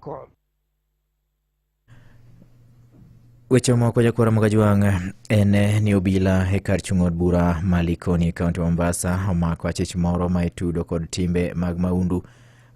Call. Weche moko jakora ma Kajwang' en ni obila e kar chung' od bura ma Likoni e kaunti ma Mombasa omako achich moro ma itudo kod timbe mag maundu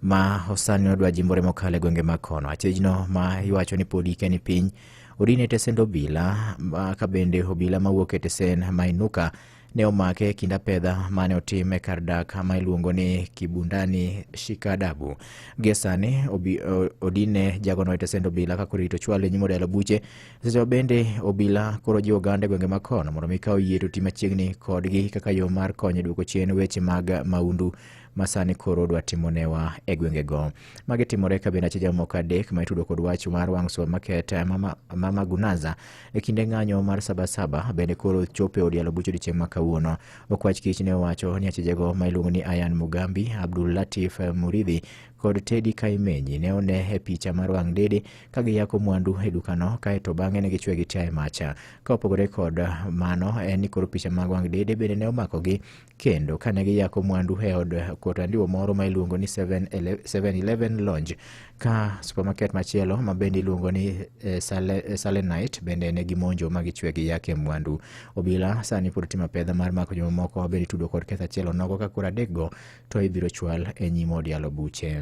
ma osani odwa jimbore mokalo e gwenge mag kono. Achijno ma iwacho ni pod ike ni piny odin e tesend obila ma- ka bende obila mawuok e tesend ma Inuka ne omake e kind apedha mane otim e kar dak ma iluongo ni Kibundani Shikadabu. Gie sani obi- o- odine jagono e tesend obila ka koro irito chwalo e nyim odela buche. Seche ma bende obila koro jiwo oganda e gwenge ma kono mondo mi kaw yie to ti machiegni kodgi kaka yo mar konyo e duoko chien weche mag maundu ma sani koro dwa timonewa e gwengego. Magi timore ka bende ache jamoko adek ma itudo kod wach mar wang' sua market Mama, Mama Gunaza e kinde ng'anyo mar sabasaba bende koro chopo e od yalo buch odiechieng' ma kawuono. Okwach kich ne owacho ni achijego ma iluongo ni Ayan Mugambi, Abdul Latif Muridhi kod Teddy Kaimenyi ne one e picha mar wang' dede ka giyako mwandu e dukano kaeto bang'e ne gichwe gi tia e macha. Ka opogore kod mano en ni koro picha mag wang' dede bende ne omakogi kendo kane giyako mwandu e od kotandiwo moro ma iluongo ni 7-Eleven Lounge ka supermarket machielo ma bende iluongo ni eh, Sale- eh, Salenite bende ne gimonjo ma gichwe gi yake mwandu. Obila sani pod timo apedha mar mako jomamoko ma bende itudo kod ketho achiel onogo ka koro adekgo to ibiro chwal e nyim od yalo buche.